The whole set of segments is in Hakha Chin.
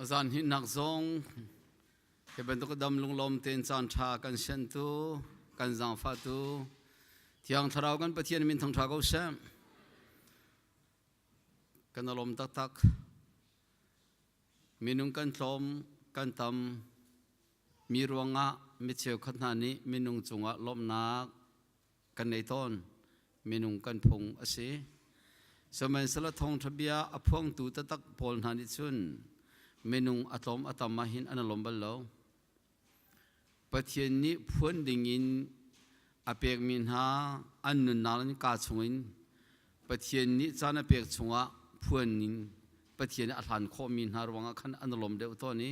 Zan hnihnak zong hi bantuk dam lunglawm tein caanṭha kan siantu kan zaangfahtu Thiang Thlarau kan Pathian min thangṭha ko seh. Kan alawm taktak. Minung kan tlawm, kan tam, mi ruangah mi cheukhat hna nih minung cungah lawmhnak kan nei tawn minung kan phung a si sihmanhsehlaw thawngṭha bia a phuangtu taktak pawl hna nih cun minung a tlawm a tam ahhin an lawm bal lo pathian nih phuan dingin a pekmi hna an nunnak in kaa chungin pathian nih caan a pek chungah phuan ning pathian a hlan khawhmi hna ruangah khan an lawm deuh tawn i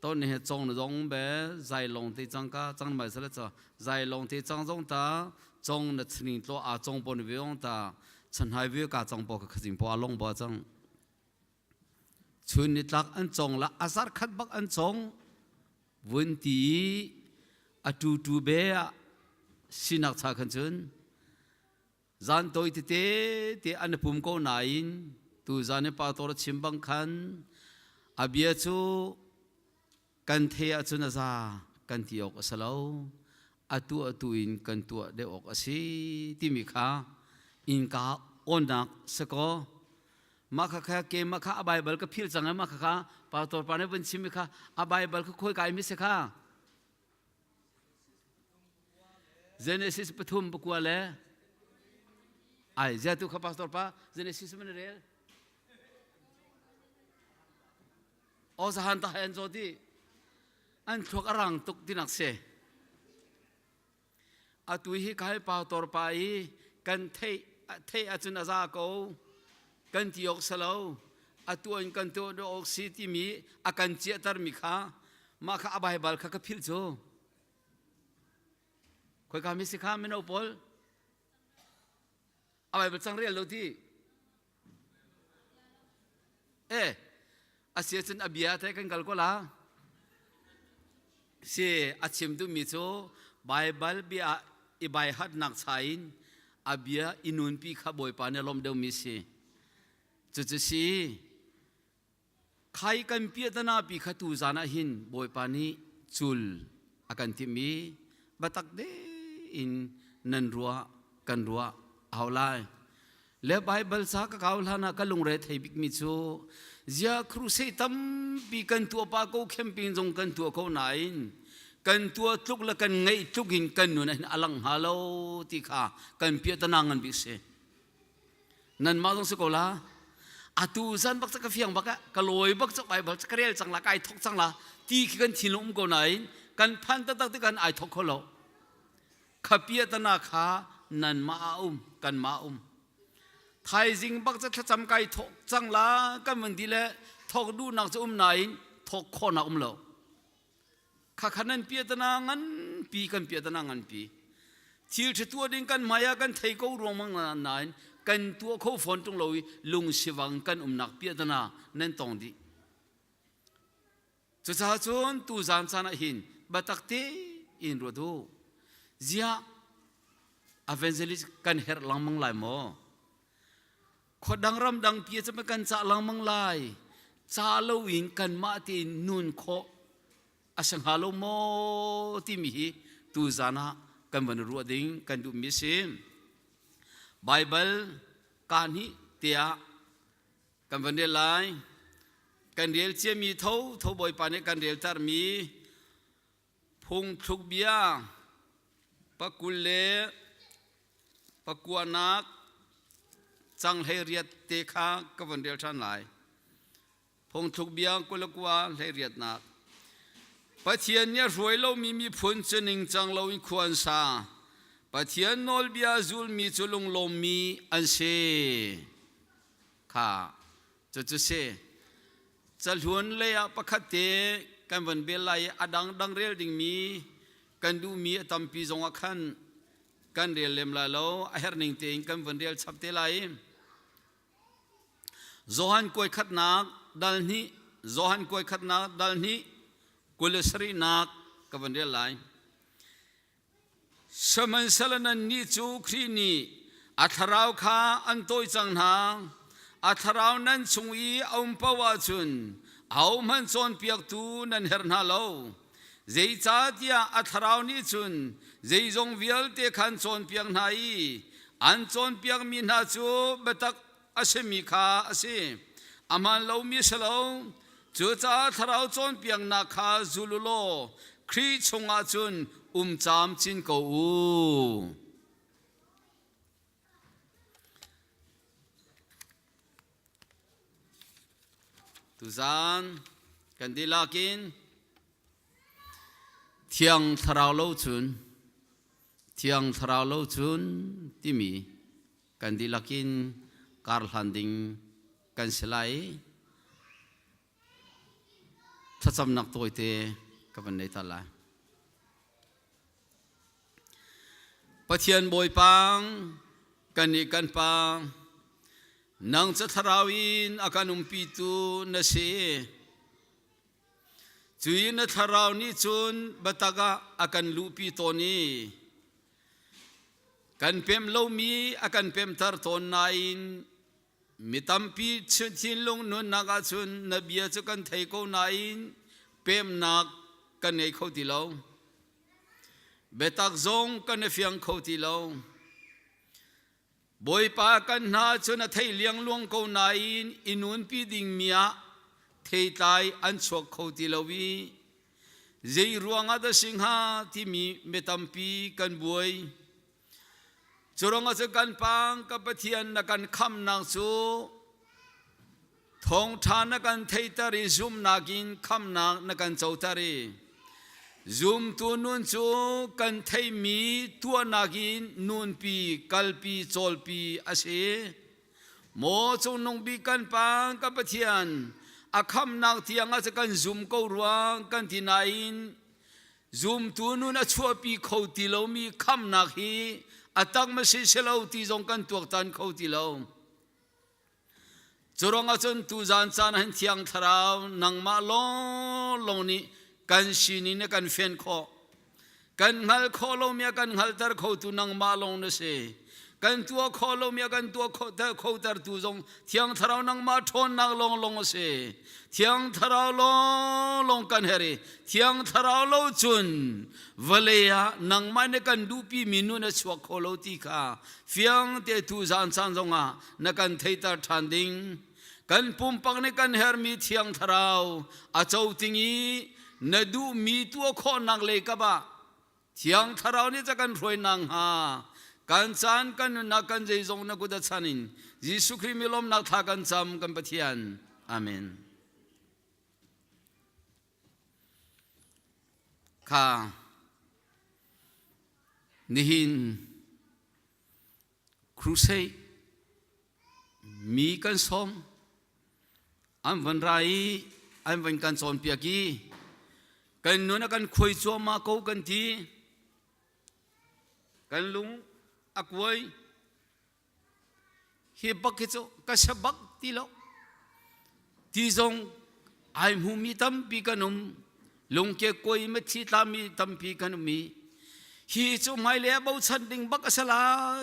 to ne he chong zong be zai long te chang ka chang mai sala cha zai long te chang zong ta chong na chning tlo a chong pon ve ong ta chan hai ve ka chong po ka khazim po along ba chang chun ni tlak an chong la asar khat bak an chong vun ti atu tu be sinak cha khan chun zan toi tete te an pum ko nain tu zan i pator chim bang khan a bia cu kan the ah cun a za kan ti awk a si lo atu atu in kan tuah deuh awk a si timi kha inka onak sako mah kha kha ke mah kha a baibal ka phil cang ai mah kha kha pastor pa ne van chim mi kha a baibal kha khoi kai mi se kha Genesis pathum pakua le ai zia tu kha pastor pa Genesis man rel o sahan ta han zo di an thluak a rang tuk tinak se atu hi ka hal pau tor pa i kan theih theih ahcun a za ko kan ti awk salo atu an kan tuah dawh awk si timi a kan ciahter mi kha mah kha a baibal kha ka philh cu khoi ka mi si kha mino paul a baibal cang rel lo ti Eh, asi ahcun a bia thai kan kal ko la. Si, a chim duhmi cu Baibal bia ah i baihatnak cha in a bia i nunpi kha Bawipa nih a lawmh deuhmi si. Cucu si, Khai kan piahtana pi kha tu zan ah hin Bawipa nih cul a kan timh i batak de in nan ruah kan ruah a hau lai. Le Baibal sa ka kau hlan ah ka lungre thei bikmi cu zia krusei tampi kan tuah pa ko khem pin zong kan tuah ko nain kan tuah tluk le kan ngeih tluk in kan nun ah hin a lang hnga lo ti kha kan piahtana ngan bik si. nanmah zong si ko la atu zan bak ka fiang bak ah ka lawi bak cak bible ka rel cang la ka ai thok cang la ti khi kan thinlung um ko nain kan phan taktak ti kan ai thok kho lo khapia tana kha nanmah a um kanmah um thaizing bak ca thlacam kai thok cang la kan van di le thok du nak ca um nain thok kho na um lo khakha nan pia tana nganpi kan pia tana nganpi thil ṭha tuah ding kan hmaiah kan thei ko ruangmang nain kan tuah kho fawn ṭung lo i lungsivang kan umnak pia tana nan tong dih cucaah cun tu zan caan ah hin batak te in ruat u ziah evangelist kan herh langmang lai maw Khuadang ramdang pi cu kan cah lengmang lai. Ca lo in kanmah te nun khawh a si hnga lo maw timi hi tu zan ah kan van ruah ding kan duhmi a si. Baibal kaan hi tiah kan van rel lai. Kan rel ciami tho tho Bawipa nih kan reltermi Phungthlukbia pakul le pakuanak canghlei te kha ka van rel ṭhan lai. Phungthlukbia kul le kua hleiriatnak. Pathian nih a hruai lomi miphun cu ningcang loin khua an sa. Pathian nawlbia zulmi cu lunglawmmi an si. Kha Cucu si. Cahlun lei ah pakhat te kan van bel lai i a dangdang rel dingmi kan duhmi a tampi zong ah khan kan rel lem lai lo a herhning tein kan van rel chap te lai. Johan kuai khatnak dal hnih Johan kuai khatnak dal hnih kul le sarihnak ka van rel lai. Sihmanhsehlaw nannih cu Khrih nih a thlarau kha an tawi cang hna. A thlarau nan chung i a um paoh ahcun ahohmanh cawnpiaktu nan herh hna lo. Zeicahtiah a thlarau nih cun zeizong vialte khan cawnpiak hna i an cawnpiakmi hna cu biatak a simi kha a si aman lomi si lo cucaah thlarau cawnpiaknak kha zul u law Khrih chungah cun um camcin ko u tuzan kan dihlak in thiang thlarau lo cun thiang thlarau lo cun timi Kan dihlak in karhlan ding kan si lai i thlacamnak tawite ka van nei ta lai. Pathian Bawipang, kan nih kan pa, nang ca thlarau in a kan umpitu na si. Cu i na thlarau nih cun biatak ah a kan luhpi tawn i kan pem lomi a kan pemter tawn nain mi tampi thinlung nunnak ah cun na bia cu kan thei ko nain pemnak kan ngei kho ti lo. Biatak zong kan i fiang kho ti lo. Bawipa kan hna cu na thei liangluang ko nain i nunpi dingmi ah theitlai an chuak kho ti lo i zei ruangah dah si hnga timi mi tampi kan buai. Curang ah cun kan pang kan Pathian na kan khamnak cu Thawngṭha na kan theihter i zumnak in khamnak na kan coter i zumtu nun cu kan theimi tuahnak in nunpi kalpi cawlpi a si. Maw Cungnung Bik kan Pa kan Pathian a khamnak tiangah cu kan zum ko rua kan ti nain zumtu nun a chuahpi kho ti lomi khamnak hi a tak masin si lo ti zong kan tuaktan kho ti lo. Curuang ahcun tuzan caan han thiang thlarau nangmah lawnglawng nih kan sinin na kan fen khawh. Kan hngal khawh lomi kan hngalter khotu nangmah lawng na si. Kan tua khawh lomi kan tua khoter tu zong thiang thlarau nangmah ṭhawnnak lawnglawng a si. Thiang thlarau lawnglawng kan her i thiang thlarau lo cun vale ah nangmah ne kan duhpimi nun a chuak kho lo ti kha fiang te tu zan caan zongah na kan theiter ṭhan ding kan pumpak nih kan hermi thiang thlarau a co ting i na duhmi tuah khawhnak lei kap ah thiang thlarau nih ca kan hruainak hnga kan caan kan nunnak kan zeizong na kut a chan in Jesuh Khrih mi lawmnak thla kan cam kan Pathian amen kha nihin crusade mi kan sawm an van ra i an van kan cawnpiak i kan nun a kan khuai cuahmah ko kan ti kan lung a kuai Hi bak hi cu ka se bak ti lo. Ti zong ai hmu mi tampi kan um. Lungke koi me thi tla mi tampi kan um i hi cu hmai le bochan ding bak a sala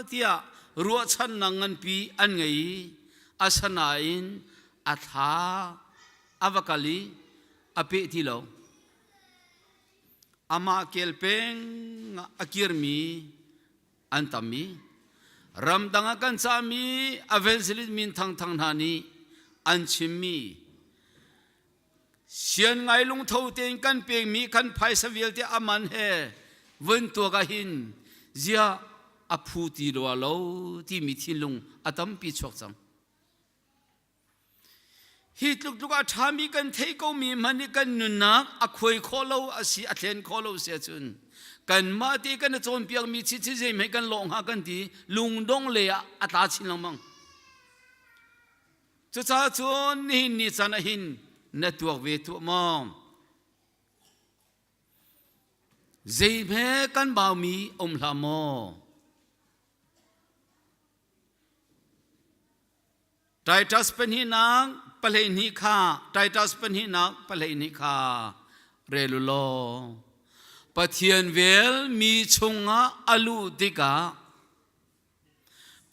tiah ruahchan nang ngan pi an ngei asanain a thla a va kal i a pe ti lo amah kel peng a kir mi an tammi ramdang ah kan cahmi evangelist min thangthang hna nih an chimmi sian ngai lungtho tein kan pekmi kan phaisa vialte aman he vun tuak ah hin ziah a phu ti lo lo timi thinlung a tampi chuak cang Hi tluk tluk a ṭhami kan theih komi hmanh nih kan nunnak a khuai khawh lo a si a thlen khawh lo si ahcun kanmah te kan i cawnpiakmi chi khi zeihmei kan lawh hnga kan ti lungdong lei ah a tla chin lengmang. Cucaah cun nihin ni caan ah hin na tuak ve tuah maw? Zeihme kan baumi um hlah maw? Titus pahnihnak pahleihnih kha Titus pahnihnak pahleihnih kha rel u law Pathian vel mi chungah a luh tikah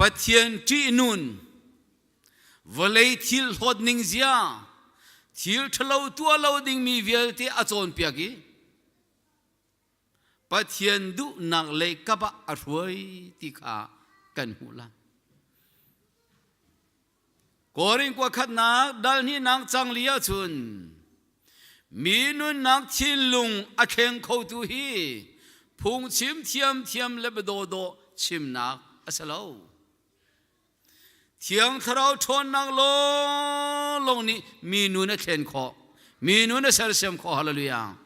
Pathian ṭihnun vawlei thil hlawt ning zia thil ṭhalo tuah lo dingmi vialte a cawnpiak i Pathian duhnak leikap ah a hruai ti kha kan hmuh lai. Korin kwa khatnak dalhninang cang li ahcun mi nunnak thinlung a thleng khotu hi phungchim thiamthiam le badaw chimnak a si lo. Thiang Thlarau ṭhawnnak lawnglawng nih mi nu na thlen khawh, mi nu na sersiam khawh. Hallelujah.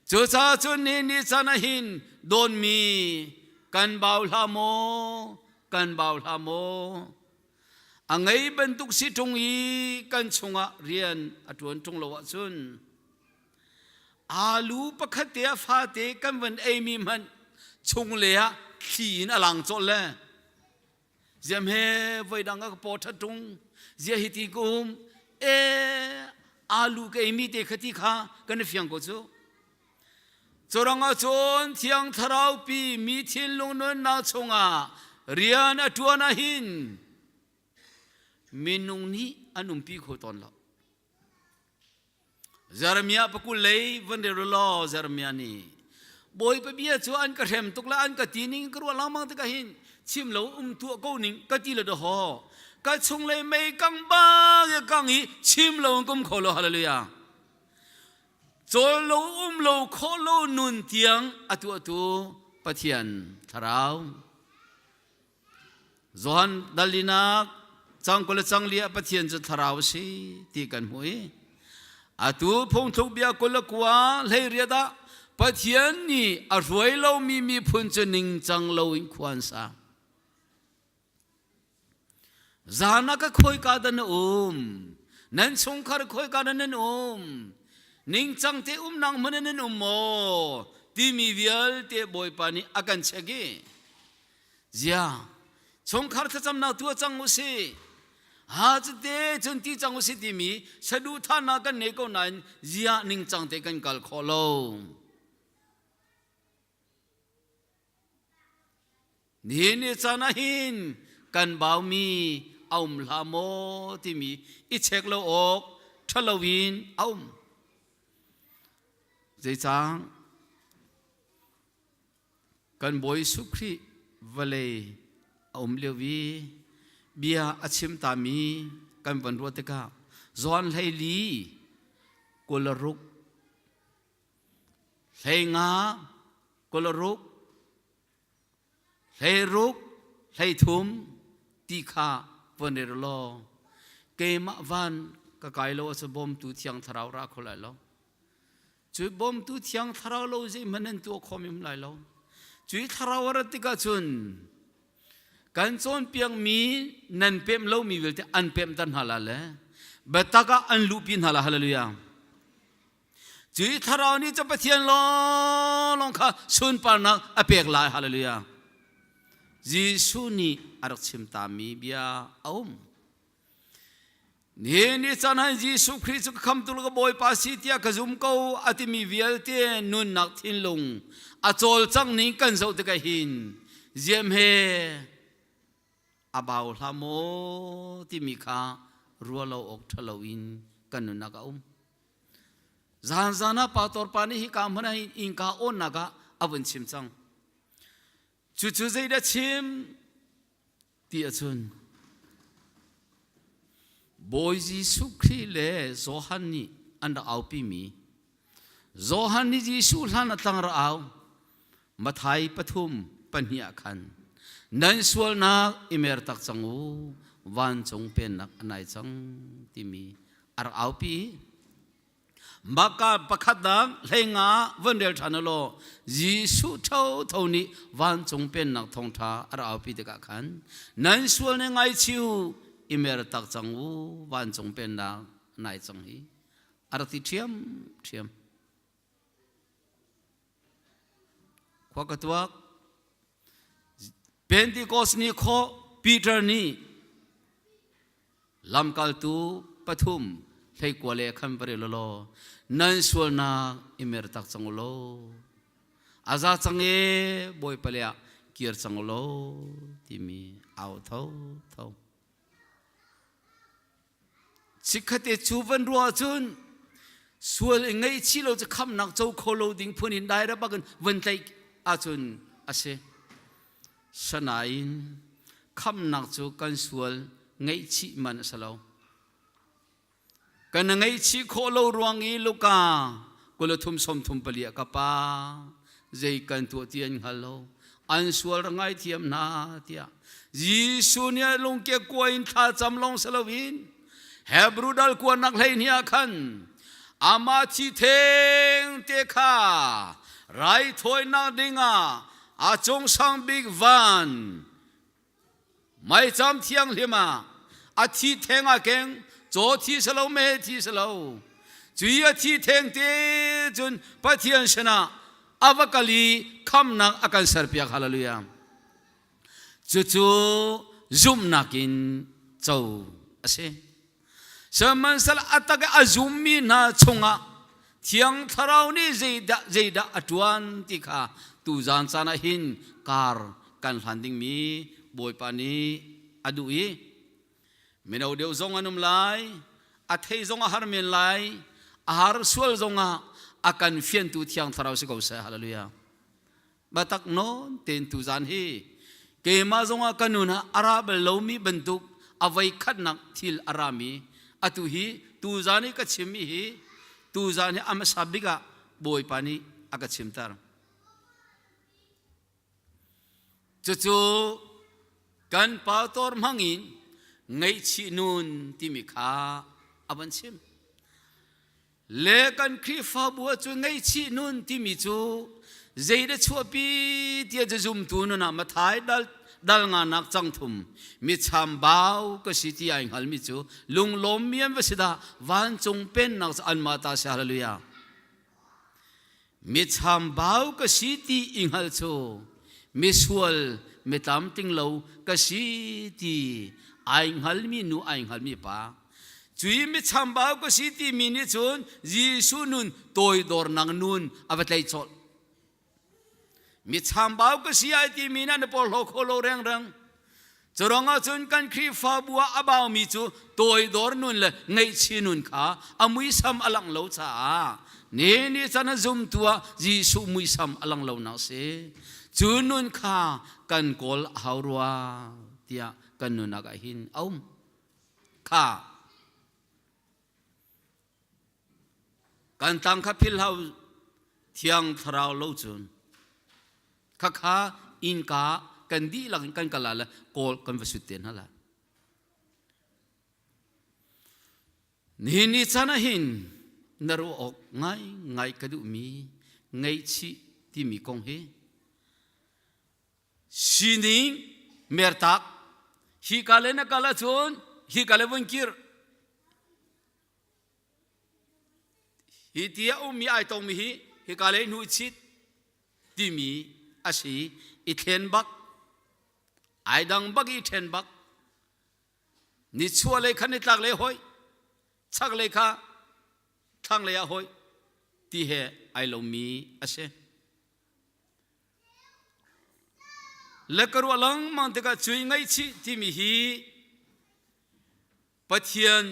Cucaah cun ni ni caan ah hin dawnmi kan bau hlah maw, kan bau hlah maw. A ngei bantuk si ṭung i kan chungah rian a ṭuan ṭung lo ahcun alu pakhat te ah fate kan van eimi hmanh chung le ah thli in a lang cawlh le ziam he voi dang ka po that tung zia hi ti kum e alu ke mi te khati kha kan fiang ko chu choranga chon thiang tharau pi mi thil lung nun na chunga rian atuana hin minung ni anum pi kho ton lo Jeremiah pakul lei van re law Jeremiah nih bawi pabia cu an ka hrem tuk la an ka ti ning ka ruah lengmang tikah hin chim lo um thuah ko ning ka ti lo da ho ka chung lei mei kang bang ya kang hi chim lo in kum kho lo hallelujah cawl lo um lo khawh lo nun tiang atu atu Pathian thlarau Johan dalinak cang kule cang lia pathian cu thlarau si ti kan hmui atu phungthluk bia kul kua hleiriat dah pathian ni a hruai lomi miphun cu ningcang lo in khuan sa zana ka khoi ka dan um nan chungkhar khoi ka nan um ningcang te um nang mun nan um mo timi vialte bawipa nih a kan check i zia chungkhar thlacam na tua cang u si ha cute chun ti cang u si timi saduhthahnak kan nei ko nain zia ningcang te kan kal khawh lo ni ni cana hin kan bau mi aum hla maw timi i check lo awk thalo in aum zeicang kan bawi Jesuh Khrih vawlei a um lio i bia a chim tami kan van ruah tikah Johan hleili kularuk hleinga kularuk hleiruk hleithum ti kha van ir law keimah van ka kai lo ah cu bawmtu thiang thlarau ra kho lai lo cu bawmtu thiang thlarau lo zeihmanh nan tuah khawm im lai lo cu i thlarau a rat tikah cun kan cawnpiakmi nan pem lomi vialte an pemter hna la le biatak ah an luhpi hna la hallelujah cu i thlarau nih cu pathian lawnglawng kha sunparnak a pek lai hallelujah jesuh nih a rak chim tami bia a um ni ni chan han Jesuh Khrih cu ka khamtu ka Bawipa si tiah ka zum ko a timi vialte nunnak thinlung a cawlcang ning kan zoh tikah hin ziam he a bau hla maw timi kha rualo awk ṭhalo in kan nunnak a um zan zan ah pastor pa nih hika hmun ah inka awnnak ah a vun chim cang cucu zeidah chim ti ahcun Bawi Jesuh Khrih le Johan nih an rak aupimi Johan nih Jesuh hlan a tlang rak au Mathai pathum pahnih ah khan nan sualnak i mer tak cang u vancung pennak a nai cang timi a rak aupi Maka pakhatnak hlenga van rel ṭhan u law Jesuh thotho nih vancung pennak thawngṭha a ra aupi tikah khan nan sual nih ngaichih u i mer tak cang u vancung pennak nai cang hi a rak ti ṭhiamṭhiam khua ka tuak Pentecost ni khaw Peter nih lamkaltu pathum hleikua le khan va rel law nan sualnak i mer tak cang law a za cang e bawi pale ah kir cang law timi au tho tho chikkhatte cu van ruah cun sual i ngeih chih lo cu khamnak co kho lo ding phun in daira bak in van tlaih ahcun a si sanain khamnak cu kan sual ngeih chih man a si lo kan ngeih chih khawh lo ruang i luka kula thum som thum pali a ka pa zei kan tuah ti an hngal lo an sual ra ngai thiam hna tiah Jesuh nih lungke kua in thla cam long se loin Hebrew dal kua nak hlei ni ah khan ama thi theng te kha rai thawi nak ding ah a cung sang bik van Maicham thianghlim ah a thi theng ah keng caw thi selo me thi selo cui a thi theng te cun Pathian sinah a va kal i khamnak a kan serpiak hallelujah cucu zumhnak in co a si Sihmanhsal a tak a zummi hna chungah Thiang Thlarau nih zeidah zeidah a ṭuan ti kha tu zan caan ah hin kar kan hlan dingmi Bawipa nih a duh i mino deu zong an um lai a thei zong a har men lai a har sual zongah a kan fiantu Thiang Thlarau si ko seh haleluya batak non ten tu zan hi keima zongah kanun ha ara bal lomi bantuk avai khatnak thil arami atu hi tu zan hi ka chimmi hi tu zan hi amasa bika bawipa nih aka chimtar cucu kan pator mangin ngaichih nun timi kha avan chim le kan khrihfabu ah cun ngaihchih nun timi cu zeide chuahpi tia zumtu nun ah mathai dal dal nga nak cang thum mi cham bau ka si ti ai ngal mi cu lunglawm mian va si da vancung pen nak an ma ta si hallelujah michambau ka si ti i hngal cu misual mitam ting lo ka si ti ai hngalmi nu ai hngalmi pa cui michambau ka si ti mi nih cun Jesu nun toidor nang nun a va tlei chawlh michambau ka si ai ti mi na na por lo kho lo reng reng Curang ah cun kan Khrihfabu ah a baumi cu toidor nun le ngaihchih nun kha a muisam a lang lo caah ni ni chan a zumtu ah Jesuh muisam a lang lo nak si cu nun kha kan kawl a hau rua tiah kan nunak ah hin a um kha kan tang kha philhlo thiang thlarau lo cun khakha innka kan dihlak in kan kal la le kawl kan va sut te hna la ni ni chan ah hin na ruah awk ngai ngai ka duh mi ngaihchih timi kong hi sining mertak hi kale na kala cun hi kale vun kir Hi ti a ummi ai tongmi hi hika lei hnu i chit timi a si i thlen bak ai dang bak i ṭhen bak nichuah lei khan nitlak lei hoi chak lei kha thlang lei ah hoi ti he ai lomi a si le ka ruah lengmang tikah cui ngaihchih timi hi Pathian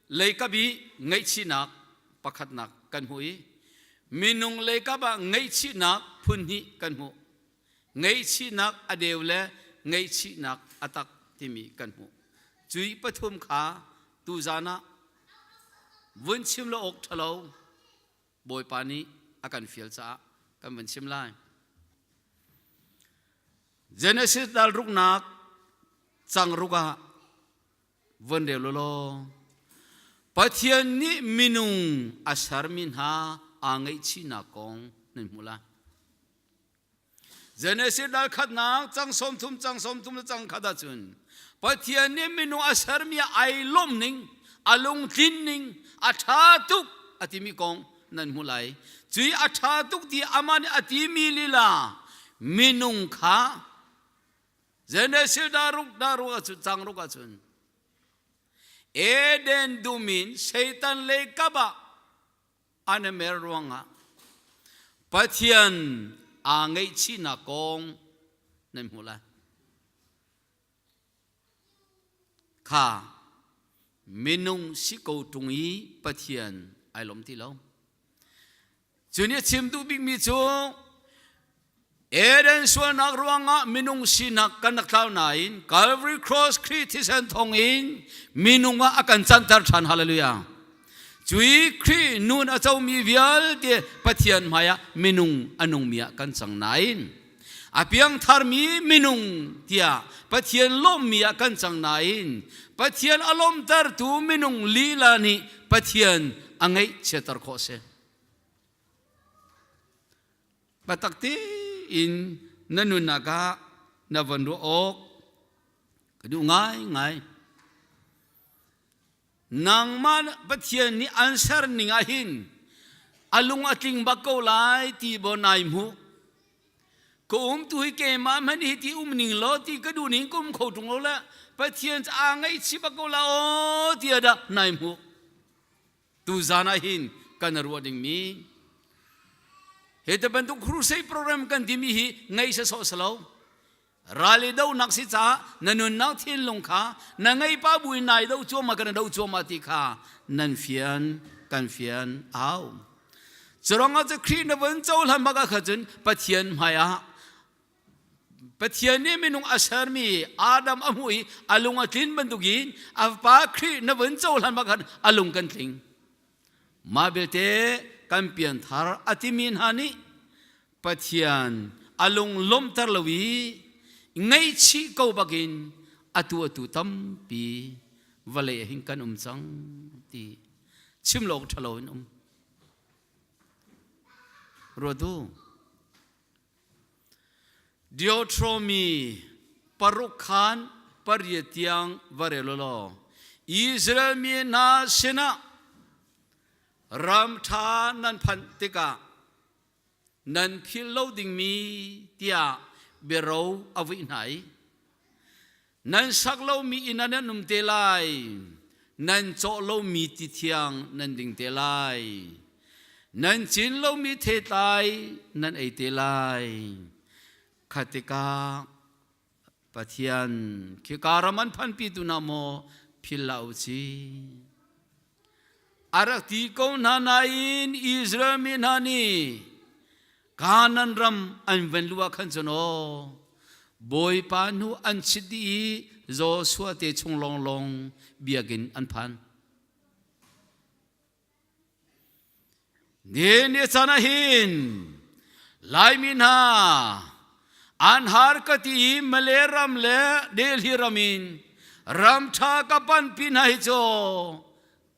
leikap i ngaihchihnak pakhatnak kan hmu i minung leikap ah ngaihchihnak phunhnih kan hmu. Ngaihchihnak a deu le ngaihchihnak a tak timi kan hmu. Cui pathum kha tuzan ah vun chim lo awk ṭhalo Bawipa nih a kan fial caah kan vun chim lai. Genesis dal ruknak cang ruk ah von reu lawlaw Pathian nih minung a sermi hna aa ngaihchihnak kong nan hmu lai Genesis dal khatnak cang som thum cang som thum le cang khat ah cun Pathian nih minung a sermi ai lawmh ning a lungtlin ning a ṭha tuk a timi kong nan hmu lai cu i a ṭha tuk ti amah nih a timi lila minung kha Genesis daruk daruk ahcun changruk ahcun Eden dum in Satan le kap ah an i mer ruangah Pathian aa ngaihchihnak kong nan hmuh lai. Kha minung si ko ṭung i Pathian ai lom ti lo. Cu nih a chim duh bikmi cu Eden sualnak ruangah minung sinak kan rak tlau nain Calvary Cross Khrih thisen thawng in minung ah a kan canter ṭhan hallelujah. Cu i Khrih nun a comi vialte Pathian hmaiah minung a nungmi ah kan cang nain a piangtharmi minung tiah Pathian lawmmi ah kan cang nain Pathian a lawmtertu minung lila nih Pathian a ngeih chiatter khawh a si. Biatak tein na nunnak ah na von ruah awk ka duh ngaingai. Nangmah Pathian nih an ser ning ah hin a lung a tling bak ko lai ti bo nai mu. Ka um tu hi keimah man hi ti um ning lo ti ka du ning kum kho tung lo la Pathian ca ngai chi bak ko la o ti ada nai mu. tuzan ah hin kan ruah dingmi hi te bantuk crusade program kan timi hi ngei sasawh salo rali do nak si caah na nunnak thinlung kha na ngei pa bui nai do cuama kan do cuama ti kha nan fian kan fian au curang ah cu khrih na van cohlan baka kha cun pathian hmai ah Pathian nih minung a sermi Adam a hmuh i a lung a tlin bantuk in a fapa Khrih na vun cohlan bak khan a lung kan tling. Mah belte kan pianthar a timi hna nih Pathian a lung lomter lo i ngaihchih ko bakin atu atu tampi vale hin kan um cang ti chim lo ṭhalo in um. Ruatu Deuteronomy paruk khan pariat tiang va rel law Israel mi hna sinah ram ṭha nan phanh tikah nan phil lo dingmi tiah biaro a vuih hna i nan sak lomi inn ah nan um te lai nan cawh lomi ti thiang nan ding te lai nan cin lomi thetlai nan ei te lai khatika pathian khi karam an phanpi tu na maw phil la u si A rak ti ko hna nain Israel mi hna nih Kanaan ram an van luh ah khan cun aw Bawipa hnu an chit dih i Joshua te chung lawnglawng biakinn an phan. Ni ni chan ah hin Laimi hna an har ka ti i Malay ram le Delhi ram in ram ṭha ka panpi hna hi cu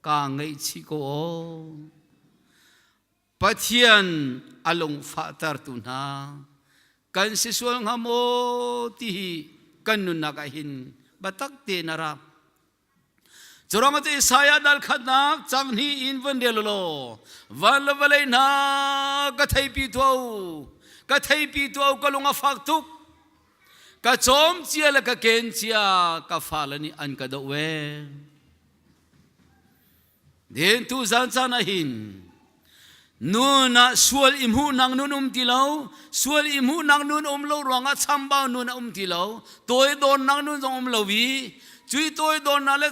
kaa ngaihchih ko aw. Pathian a lungfahtertu hna kan si sual hnga maw ti hi kan nunnak ah hin biatak te na ra. Curang ate Isaiah dal khatnak chang hni in van del law van la valei na ka theipi tu ka theipi tu ka lung a fak tuk ka chom cia le ka ken cia ka fa la nih an ka do we Den tu zan caan ah hin nun ah sual i hmuhnak nun um ti lo sual i hmuhnak nun um lo ruangah chambau nun a um ti lo tawi dornak nun zong um lo i cui tawi dornak le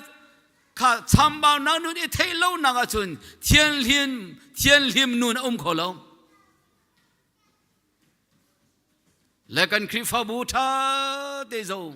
kha chambaunak nun i theih lonak ahcun thianhlim thianhlim nun a um kho lo le kan khrihfabu ṭha te zong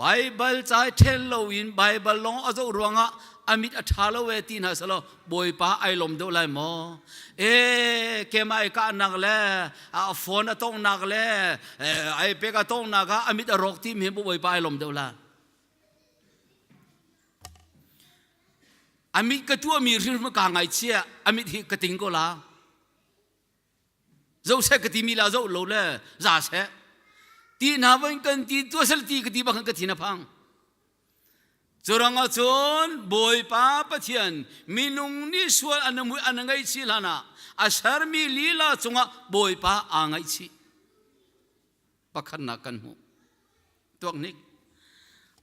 Baibal cai ṭhen loin Baibal lawng a zoh ruangah a mit a ṭha lo e ti hna selaw Bawipa ai lom deuh lai maw? E kemah i kahnak le a phone a tonghnak le ai pek a tonghnak ah a mit a rawk ti mi bu Bawipa ai lom deuh lai. A mit ka tuahmi hrirma kaa ngaichia a mit hi ka ting ko la. Zoseh ka ti mi la zo lo le za seh ti hna voin kan ti tua sel ti ka ti bang ka thina phang curanga cun bawipa pathian minung ni sual an an ngei si lana a sermi lila cungah bawipa aa ngei si pakhatnak kan hmu tuak nik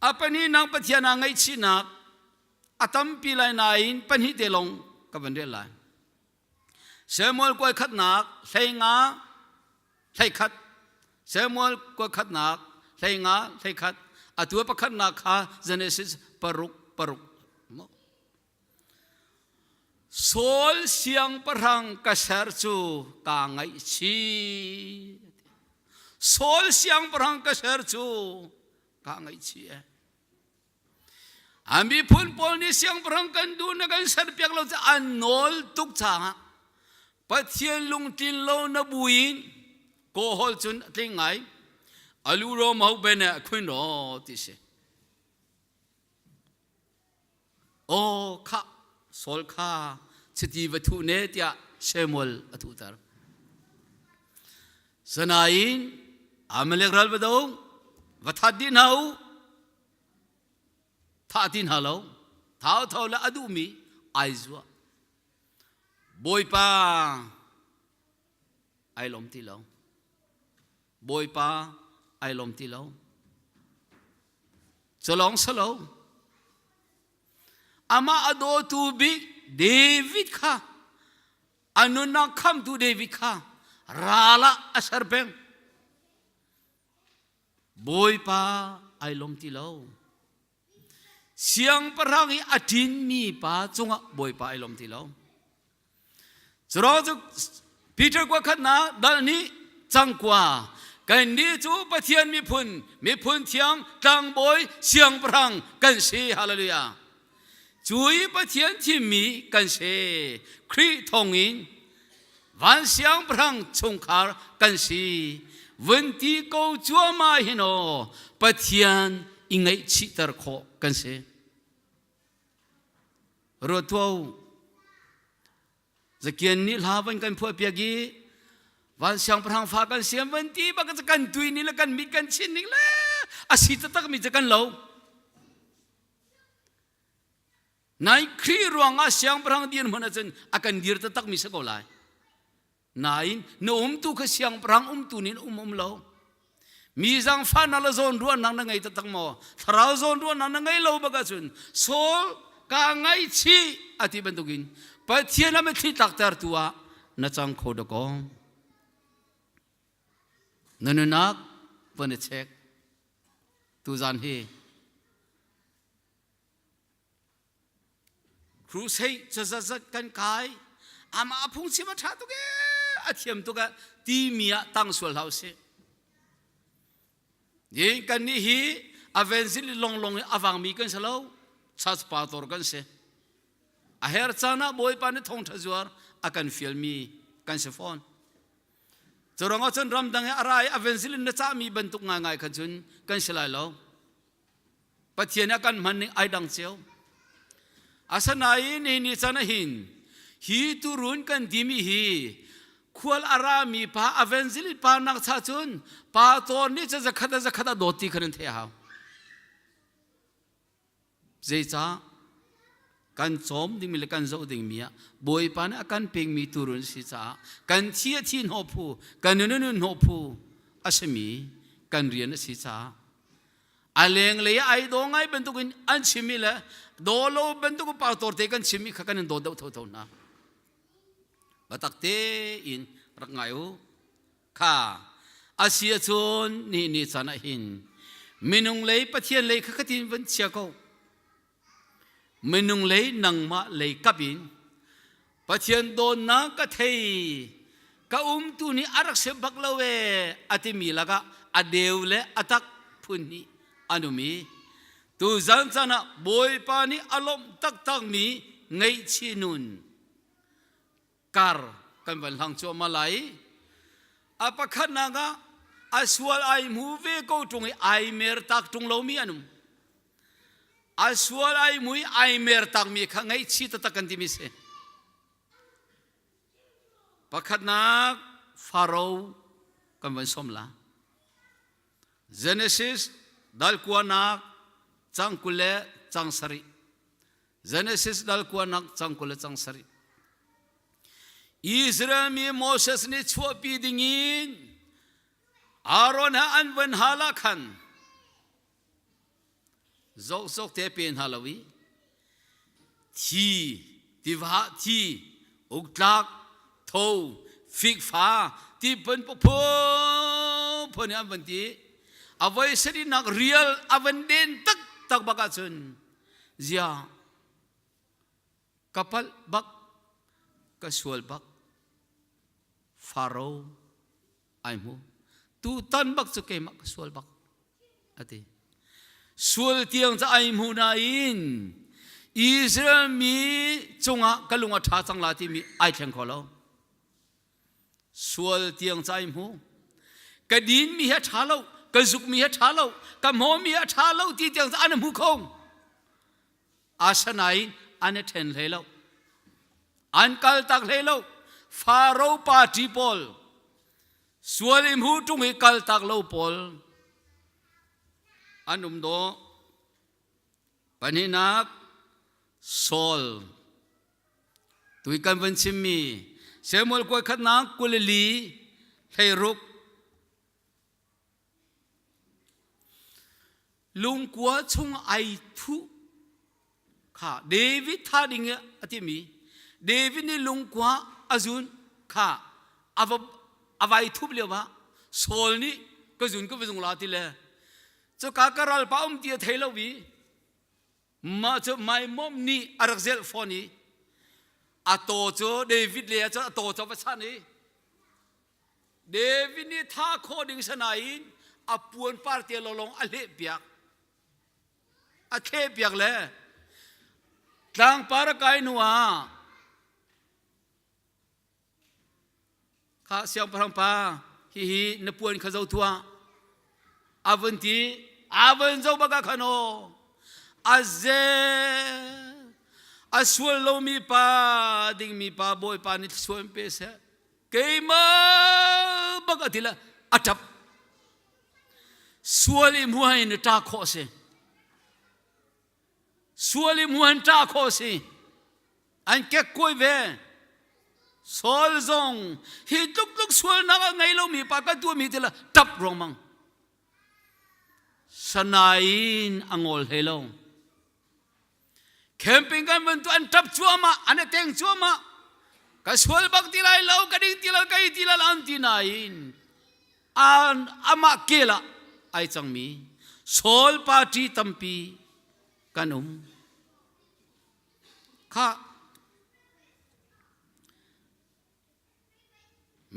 apani nang pathian aa ngei sinak a tampi lai nain pahnih te long ka van rel lai Samuel kuai khatnak hlenga hleikhat Samuel kuai khatnak hlenga hleikhat a tua pakhatnak kha Genesis paruk paruk Saul siang parang ka ser cu ta ngaih si Saul siang parang ka ser cu ka ngaih si eh An miphun pawl nih siangpahrang kan duh na kan serpiak lo caah an nawl tuk changah Pathian lungtlin lo na buin kawhol cun a tling ngai a lu rom ho ben a khuin ro ti si aw kha sol kha chiti va thu ne tiah Samuel a thutar sanain Amalek ral va dong va that din hau thah ti hna lo thotho le a duhmi ai zuah bawipa ai lom ti lo bawipa ai lom ti lo culong salo amah a dawtu bik david kha a nunnak khamtu david kha rala a ser peng Bawipa ai lom ti lo. Siangpahrang i a ṭinmi pa cungah Bawipa ai lom ti lo. Curawng cu Peter kua khatnak dal nih cangkua kan nih cu Pathian miphun miphun thiang tlangbawi siangpahrang kan si hallelujah cu i Pathian thimmi kan si Khrih thawngin van siangpahrang chungkhar kan si vun ti ko cuahmah hin aw Pathian i ngaihchihter khawh kan si ruat tuah zakian nih hla van kan phuah piak i van siangpahrang fa kan siam van ti bak kan tui ni le kan mit kan chin ning le asi tatak mi kan lo Nai Khrih ruangah siangpahrang din hmun ahcun a kan dir takmi si ko lai. Nain na umtu kha siangpahrang umtu nin um um lo. Mi zangfahnak le zawn ruahnak na ngei taktak maw? Thlarau zawn ruahnak na ngei lo bak ahcun Saul ka ngaichih a ti bantukin Pathian a mitthli tlakter tu ah na cang kho dakaw. Na nunak van i check. Tuzan hi crusade cazazat kan kai ama phung sim a tha tuk e a thiam tuk e ti mi ah tang sual hlau si yin kan ni hi avensin long long awang mi kan salo church pastor kan se a her chana boy pa ne thong tha zuar akan fiel mi kan se phone Curang ahcun ramdang i a ra i a vensilin na cahmi bantuk ngaingai khan cun kan si lai lo. Pathian nih a kan hman ning ai dang cio. Asanain hi ni chan ah hin hi turun kan dimi hi khual a rami pa a vensilin pa nak cha cun pa cawn nih cun zakhat zakhat a dawt ti khan an theih hau. Zeicah? Kan cawm dingmi le kan zoh dingmi ah Bawipa nih a kan pekmi tuurun si caah kan thi a thi hnawh phu, kan nun a nun hnawh phu a simi kan rian a si caah a lenglei ah ai daw ngai bantukin an chimmi le daw lo bantukin pautor te kan chimmi kha kan in daw deuh thotho hna. Biatak tein rak ngai u. kha a si ahcun ni ni chan ah hin minung lei pathian lei kha katin van chia ko minung lei nangmah lei kap in pathian dawnnak ka thei ka umtu nih a rak se bak lo e a timi lakah a deu le a tak phun nih an um i tu zan chan ah bawipa nih a lawmh taktak mi ngaihchih nun kar kan van hlang cuahmah lai a pakhatnak ah a sual ai hmu ve ko tung i ai mer tak tung lomi an um a sual ai mui ai mer takmi kha ngaihchi taktak kan timi si pakhatnak faro kan van som la genesis dal kuanak cang kul le cang sarih Genesis dal kuan nak cang kul le cang sarih Israel mi Moses nih chuahpi ding in Aaron ha an van hala khan zok zok te pe hna lo i thi tiva thi uktlak tho fikfa ti pan phu phu ni an van ti avoi sari nak real avan den tak tak baka chun Ziah ka palh bak ka sual bak faro ai mu tu tan bak cu keimah ka sual bak ati sual tiang ca ai mu na in Israel mi cungah ka lung a ṭha cang la timi ai thleng kho lo sual tiang cai mu ka din mi hi tha lo ka zuk mi hi tha lo ka mo mi hi tha lo ti tiang an hmu khong asanain an then hlei lo an kal tak hlei lo faro party pawl sual im hu tung i kal tak lo pawl an um do panhinak sol Tui kan vun chimmi Samuel kuai khatnak Galilee hleiruk lungkua chung ai thu kha David tha ding i a timi David nih lungkua a zun kha a va a vai thup lio ah Saul nih ka zun ka va zung la ti le cuka ka ral pa um ti a thei lo i mah cu mai mom nih a rak zelh fawn i a taw cu David le cun a taw cu va san i David nih tha khaw ding sanain a puan parte lawlong a hleh piak a thle piak le tlangpar a kai hnu ah Kha siangpahrang pa hihi na puan kha zo tuah a vun ti a vun zo bak ah khan aw a zel a sual lomi pa dingmi pa bawipa nih sual pe seh keimah bak a tila a ṭap sual i hmuh in ṭa khawh a si sual i muan ṭa khawh a si an kekkuai ve Saul zong hi tluk tluk sualnak a ngei lomi pa kan tuahmi ti la ṭap ruangmang sanain a ngol hlei lo camping kan van tu an ṭap cuahmah an e teng cuahmah ka sual bak ti lai lo ka ding ti lo ka i ti lo an ti nain amah kel ah ai cangmi Saul party tampi kan um kha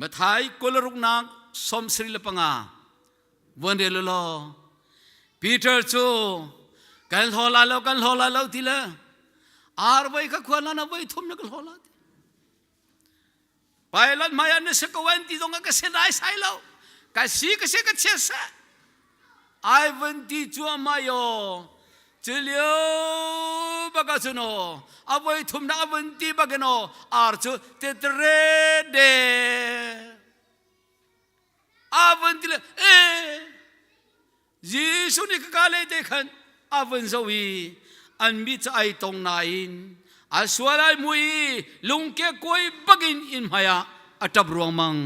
mathai kolaruknak som sri le panga vuan re lo law peter cu kan hlaw la lo kan hlaw la lo ti le ar voi ka khuan la na voi thum na ka hlaw la ti Pilot hmaiah na si ko an ti zong ka si naisai lo ka si ka si ka chia seh ai van ti cuahmah yo cilio baka cu no avoi thum na avon ti bakin o ar cu tetre de avon ti le eh Jesuh nih ka le te khan a vun zo i an mit cu ai tong nain a sual ai mu i lungke kuai bakin in hmaiah a ṭap ruangmang.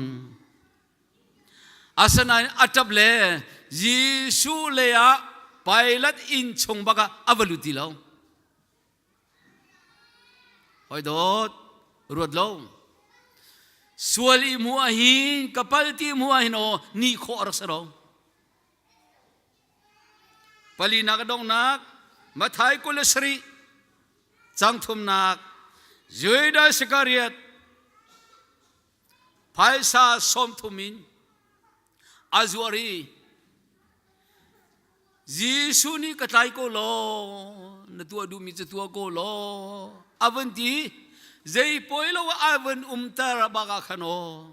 Asinain a ṭap le Jesuh leiah Pilat inn chung bakah a va lut ti lo. Hoi dawt, ruat lo. Sual i mu ah hin, ka pal ti mu ah hin aw, ni khawh a rak si lo. Palinak a donghnak Matthai kul le sarih cang thumnak Judas Iskariot phaisa sawmthum in a zuar i Jesuh nih ka tlai ko law na tuah duhmi cu tuah ko law a vun ti zei poi lo ah a vun umter bak ah khan aw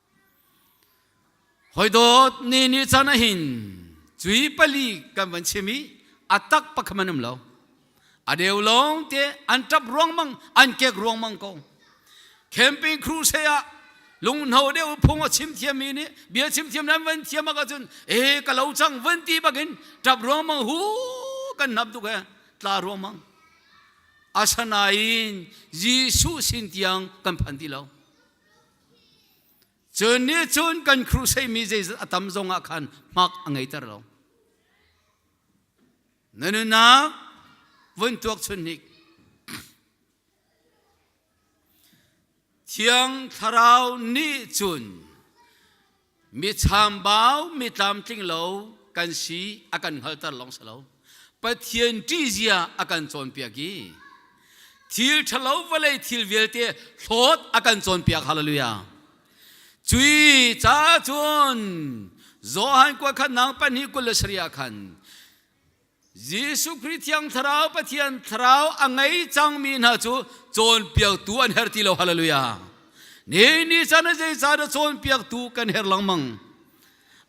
Hawidawt ni ni caan ah hin cui pali kan van chim i a tak pakhat man um lo. A deu lawng te an tap ruangmang an kek ruangmang ko. Camping crew se ah lungno deu phung a chim thiammi nih bia chim thiam nan van thiam ah cun e ka lo cang van ti bakin tap ruangmang hu kan nap tuk he tla ruangmang. Asanain Jesuh sin tiang kan phan ti lo. Cun nih cun kan crusade-mi zeizat a tam zongah khan hmak a ngeiter lo. Na nunnak vun tuak chun hnik. Thiang Thlarau nih cun michambau mitlamtling lo kan si a kan hngalter lawng si lo pathian ṭihzia a kan cawnpiak i thil ṭhalo vawlei thil vialte hlawt a kan cawnpiak hallelujah cui ca cun Johan kua khatnak pahnih kul le sarih ah khan Jesuh Khrih thiang thlarau Pathian thlarau a ngei cangmi hna cu cawnpiaktu an herh ti lo hallelujah ni ni chan ah zeicahdah cawnpiaktu kan herh lengmang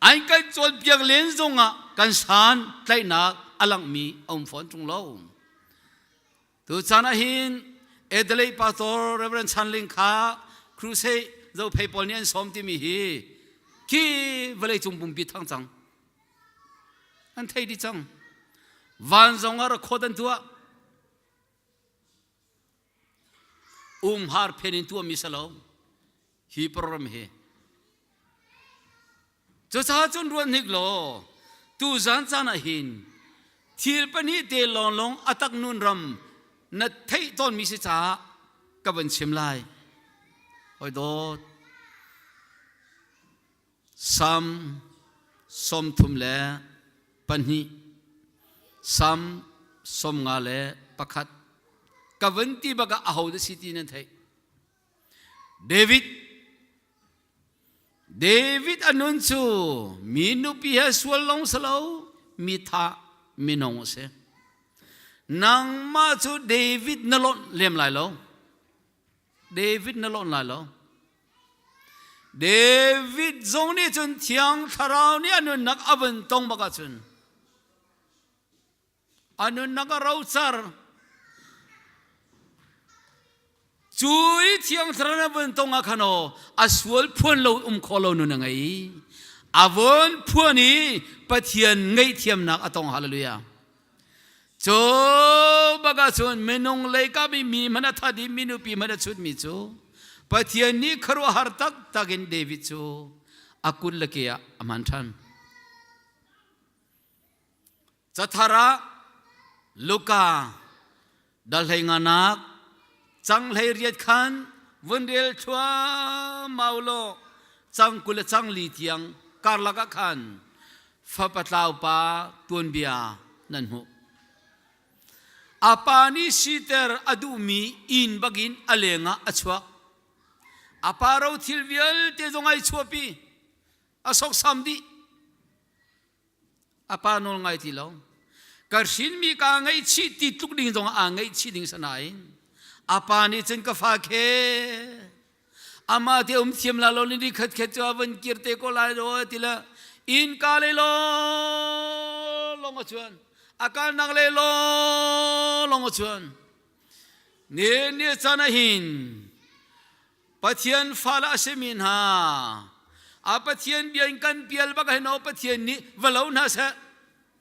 an kan cawnpiak len zongah kan shan tlaihnak a langmi a um fawn ṭung lo Tuchan ah hin Adelaide pastor Reverend Chanling kha crusade zophei pawl nih an sawm timi hi ki vawleicung pumpi thang cang an thei dih cang van zong ah rakhawt an tuah umhar phen in tuah mi sa lo hi program hi cucaah cun ruat hnik law tu zan caan ah hin thil pahnih te lawnlawng a tak nun ram na theih tawnmi si caah ka van chim lai hoi dawt sam sawmthum le pahnih sam sawm nga le pakhat ka van ti baka a ho da si ti nan theih David David anun cu mi nupi he sual long salo mi tha minung a si nangmah cu David na lonh lem lai lo David na lonh lai lo David zong nih cun thiang thlarau nih anun nak a vun tong bak ah cun a nunnak a rocar cu i thiang thlarau na vun tong ah khano a sual phuan lo um kho lo nun a ngei a von phuan i pathian ngei thiamnak a tong hallelujah cu baka chun minung leikam i mi man a that i minu pi man a chut mi cu pathian nih kharu har tak takin david cu a kun le ke ah a man than Cathar ah Luka dahleinganak canghhlei riat khan vun rel thluahmah u law cang kul le cang li tiang karlak ah khan fapatlaupa tuanbia nan hmuh. A pa nih siter a duhmi inn bakin a lengah a chuak. A pa ro thil vialte zong ai chuahpi. A soksam dih. a pa nawl ngai ti lo ka hrinmi ka ngaihchih ti tluk ding zong aa ngaihchih ding sa nain a pa nih cun ka fa khe ama te um thiam la lo ni ri khat khat chu van kir te ko lai do ti la in ka le lo long a chuan akal nak le lo long a chuan ne ne sana hin Pathian fale a simi hna a Pathian bia in kan pial bak hin o Pathian nih va lo hna seh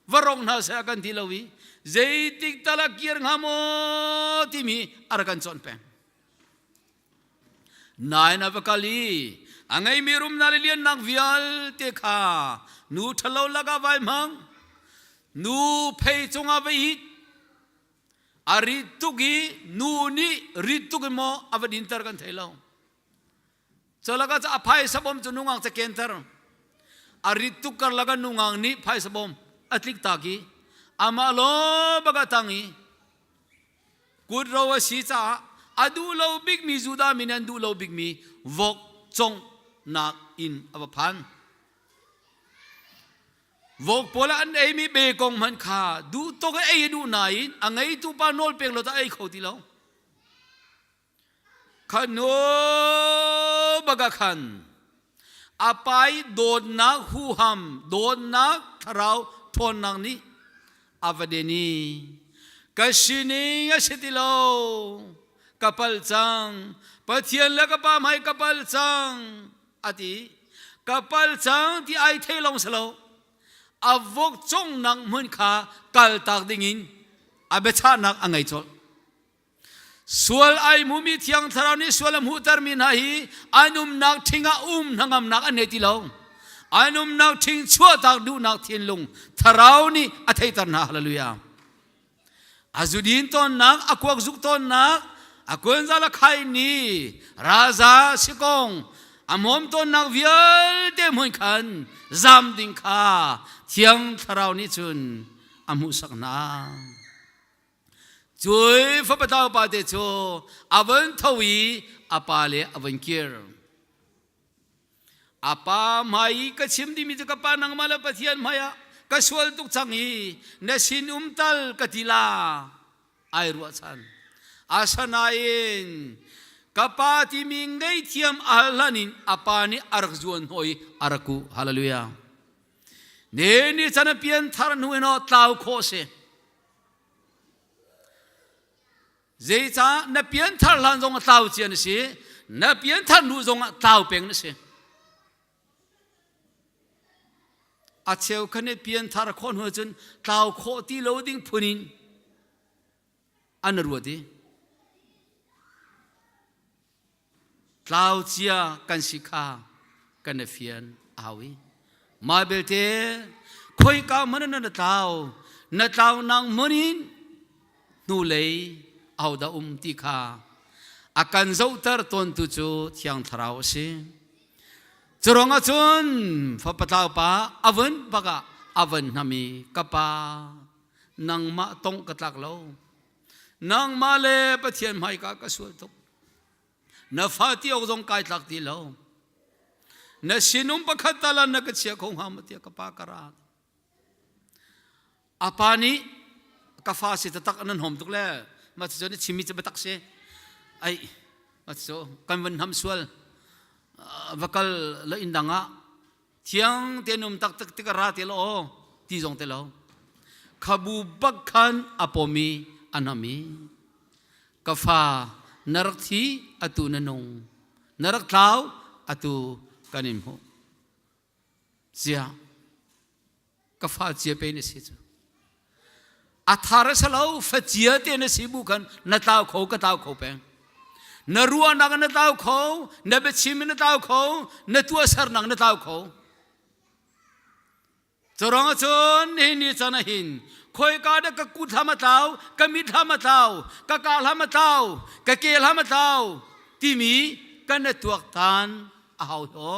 va rong hna seh kan ti lo i zeitik tala kir hnga maw timi ar kan cawn peng nain a va kal i a ngeimi rum na le liannak vialte kha nu ṭhalo lakah vai hmang nu phei cungah vai hit A rit tuk i nu nih rit tuk in maw a va dinter kan thei lo. Chalaka ca a phaisa bom cu nungak ca kenter. A rit tuk karlak an nungak nih phaisa bom a tlik tak i amah lo bagatang i kut ro a si caah a duh lo bikmi Judah mi nih an duh lo bikmi vok congnak in a va phan. Vok pawl ah an eimi be kong hmanh kha duhtok a ei a duh nain a ngeitu pa nawl pek lo tah ei kho ti lo. Khanu baga khan a pai dawtnak huham dawtnak thlarau ṭhawnnak nih a va deni ka sining a si ti lo ka pal cang pathian le ka pa hmai ka pal cang ati ka pal cang ti ai thei long si lo avok cung nak hmun kha kal tak ding in a biachahnak a ngei cawlh sual ai mumi thiang thlarau nih sual a hmuhter mi hna hi anumnak ṭhing ah um hnangamnak an nei ti lo anumnak ṭhing chuahtak duhnak thinlung thlarau nih a theiter hna hallelujah a zudin tonnak a kuak zuk tonnak a kuanzal a khai ni raza sikong a mom tonnak vialte hmuin khan zam ding kha thiang thlarau nih cun a hmuhsak hna cui fapatau pa te cu a von tho i a pa le a von kir apa hmai i ka chim dimi cu ka pa nangmah le pathian hmai ah ka sual tuk cang i na sin um tal ka tila ai ruahchan asanain ka pa timi ngeihthiam a hlan in a pa nih a rak zuan hoi a rak ku hallelujah ne ni chan a pian thar hnu in o tlau kho si zeicah na pianthar hlan zong a tlau cia na si na pianthar hnu zong ah tlau peng na si a cheu khan i pianthar khawh hnu cun tlau khawh ti lo ding phun in an ruat i tlau cia kan si kha kan i fian a hau i mai belte khoi ka man na tlau na tlau nang monin hnu lei au da um ti kha a kan zohter ton tu cu thiang thlarau a si curong ahcun fapatlau pa avun baka avun hnami kapa nangmah tong ka tlak lo nangmah le pathian hmaika ka sual tuk na fa ti awk zong kai tlak ti lo na sinum pakhat tala na ka chia kho ngam tia ka pa ka ra apa nih ka fa si tatak nan hom tuk le ma ti chon chimi che batak se ai ma ti kan van ham sual va kal la in danga thiang te num tak tak tik ra te lo ti zong te lo khabu bak khan apomi anami kafa narak thi atu na nung narak thlau atu kanin mu zia ka fa cia pe na si cu a thar sa lo fa cia te na si bu khan na tlau kho ka tlau kho peng na ruahnak na tlau kho na biachim na tlau kho na tuasar nak na tlau kho corong cun hi ni chan a hin khoi ka da ka ku thlam atlau ka mi thlam atlau ka ka hlam atlau ka ke hlam atlau timi kan na tuak tan a hau to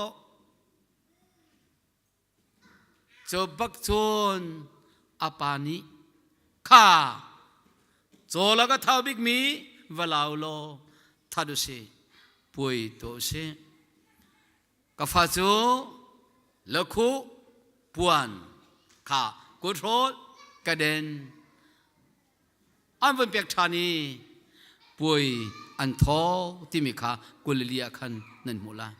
Cu bak cun a pa nih kha caw lak a thau bikmi va lau law that u si puai tuah u si ka fa cu lakhu puan kha kut hrawl ka den an von pek ṭhan i puai an tho timi kha Galilee ah khan nan hmuh lai.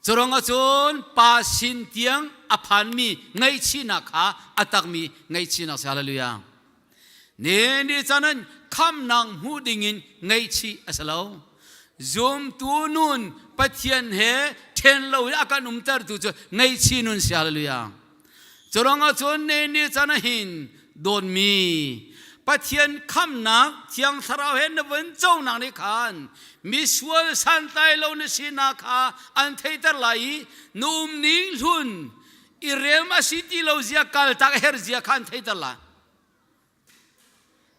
Curangah cun pa sin tiang a phanmi ngaihchihnak kha a takmi ngaihchihnak si hallelujah. Ne ni canan khamnak hmu dingin ngaihchih a si lo. Zumtu nun Pathian he ṭhen lo i a kan umtertu cu ngaihchih nun si hallelujah. Curang ah cun ne ne chan ah hin dawnmi Pathian khamnak thiang thlarau he na vun conak nih khan misual santlai lo na sinak kha an theiter lai i na um ning hlun i rem a si ti lo zia kaltak a herh zia kha an theiter lai.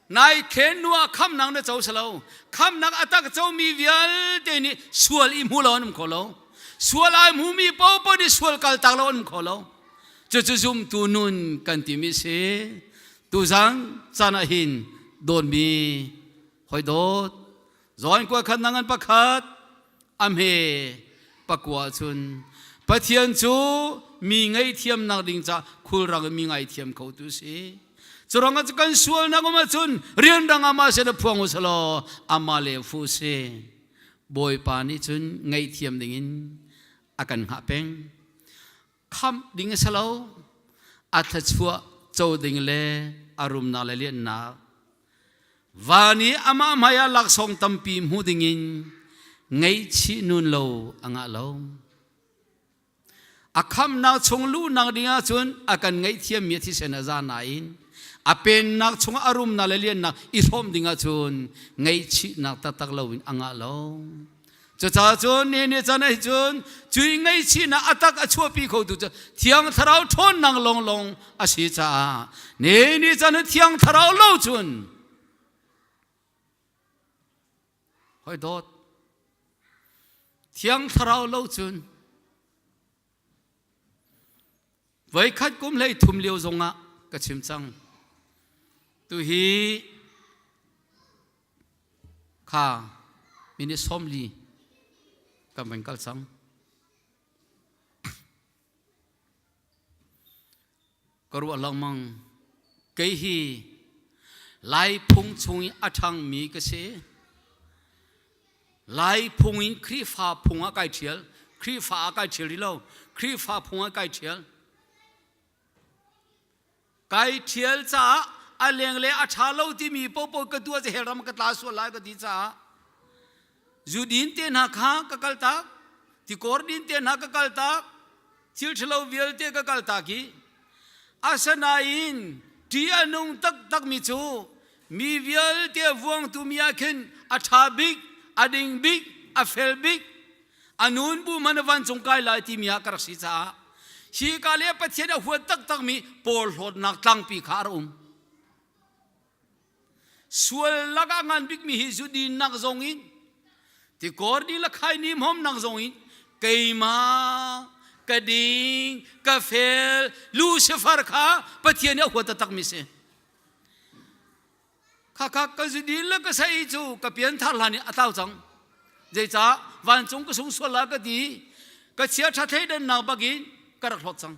Nai khennu ah khamnak na co si lo. Khamnak a tak comi vialte nih sual i hmu lo an um kho lo. Sual ai hmumi popo nih sual kaltak lo an um kho lo. Cucu zumtu nun kan timi si. Tuzang chan ah hin dawnmi hoi dawt Zoin kua khan nang an pakhat a hme pakua chun Pathian cu mi ngaihthiam nak ding ca khulrang in mi ngaithiam kho tu si curang ah kan sual nak um ahcun rian rang ah ma se na phuang usih law amah le fu si bawipa nih cun ngaihthiam ding in a kan hngah peng khamh ding a si lo a thlachuah co ding le a rumnak le lianhnak van i amah hmai ah laksawng tampi hmu ding in ngaihchih nun lo a ngah lo a khamnak chung luhnak ding ah cun a kan ngaihthiam mi thisen a za nain a pennak chung a rumnak le liannak i hrawm ding ah cun ngaihchihnak taktak lo in a ngah lo Cucaah cun ni ni can ei cun cui ngei chin ah atak a chuahpi kho tu cu thiang thlarau ṭhawn nang long long a si caah ni ni can thiang thlarau lo cun hoi dawt thiang thlarau lo cun Voikhat kum hlei thum lio zong ah ka chim cang. Tu hi kha minute sawmli kan van kal cang. ka ruah lengmang kei hi lai phung chung i a ṭhangmi ka si Lai phung in Khrihfa phung ah kai ṭhial. Khrihfa ah kai ṭhial rih lo. Khrihfa phung ah kai ṭhial. Kai ṭhial caah a leng le a ṭha lo timi pohpoh ka tuah hel ram ka tla sual lai ka ti caah zudin te hna kha ka kal tak tikor din te hna ka kal tak thil ṭhalo vialte ka kaltak i asinain ṭi a nung taktakmi cu mi vialte vuangtu mi ah khin a ṭha bik a ding bik a fel bik a nun bu hmanh a vancung kai lai timi ah ka rak si caah hi ka le Pathian a huat taktakmi pawl hlawtnak tlangpi kha a rak um. sual lak ah ngan bikmi hi zu din nak zong in tikor ni la khai ni mom nak zong in keima ka ding ka fel lucifer kha pathian a huat tak mi si kha kha ka zu din la ka sai cu ka pian thar hlan i atau cang zeica vancung ka sung sual la ka ti ka chia ṭha thei dan nak bakin ka rak hlot cang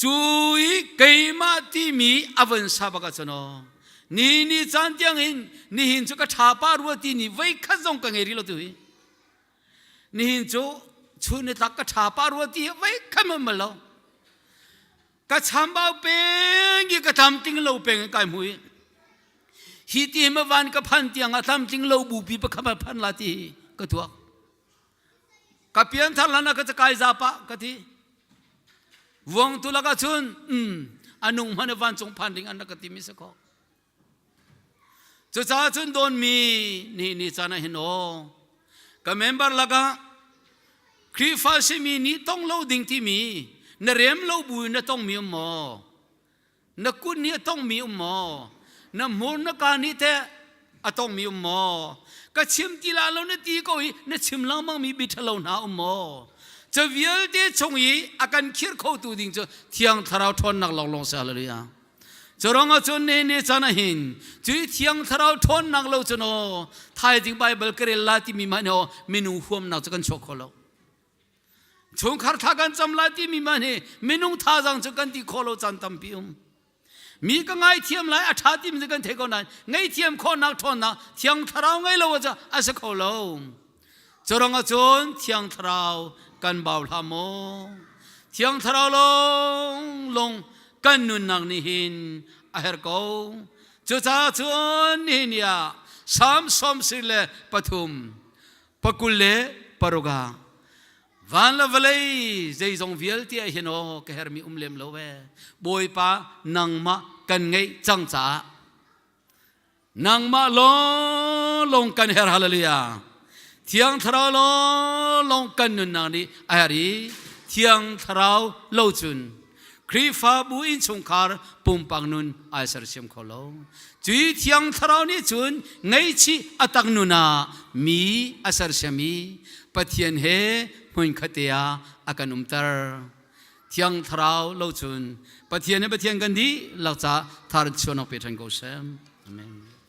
Cui keimah timi a von sa bak ahcun ni ni caan tiang in nihin cu ka thapa rua ti ni voi khat zong ka ngei rih lo tu hi nihin cu chun ni tlak ka thapa rua ti hi voi khat man mal lo ka chambau peng i ka tham tling lo peng in kai mui hi ti hi ma van ka phan tiang a tham tling lo bu pi pakhat man phan la ti ka tuak ka pian thar hlan ah ka cakai zapa ka ti vuang tu laka chun mm, anung hman vancung phan ding an ka ti mi sakho cucaah cun don mi ni ni chana hin o ka member laka Krifa simi ni tong lo ding ti mi na rem lo bu na tong mi maw na kun hi a tongmi um maw na hmur na kaan hi teh a tongmi um maw ka chim ti la lo na ti ko hi na chim lengmang mi bithalo hna um maw ca vialte chung i a kan khir khotu ding cu thiang thlarau ṭhawnnak lawnglawng se hallelujah Curang cun ne ne chan ahin cui thiang thlarau ṭhawn nak lo cu no thai ding Bible karel la ti mi ma no minu huam nak cu kan chuak kho lo chungkhar thla kan cam lai timi man hi minung thazang cu kan ti khawh lo caan tampi um mi ka ngaithiam lai a ṭha timi kan thei ko nain ngaihthiam khawhnak ṭhawnnak thiang thlarau ngei lo aja a si kho lo curang ahcun thiang thlarau kan bau hla maw thiang thlarau long long kan nunnak nih hin a her ko cucaah cun nihin ah samsom sir le pathum pakul le paruk ah van le vawlei zeizong vialte ah hin aw ka hermi um lem lo ve bawipa nangmah kan ngeih cang caah nangmah lawng kan her hallelujah thiang thlarau lawng kan nunnak nih a her i thiang thlarau lo cun Khrihfabu innchungkhar pumpak nun ai sersiam kho lo. Cuy thiang thlarau nih cun ngeichih a tak nun ah mi a sersiam i Pathian he hmunkhat te ah a kan umter. Thiang thlarau lo cun Pathian he Pathian kan dih lakcah thar chuanawk pe than ko sem. Amen.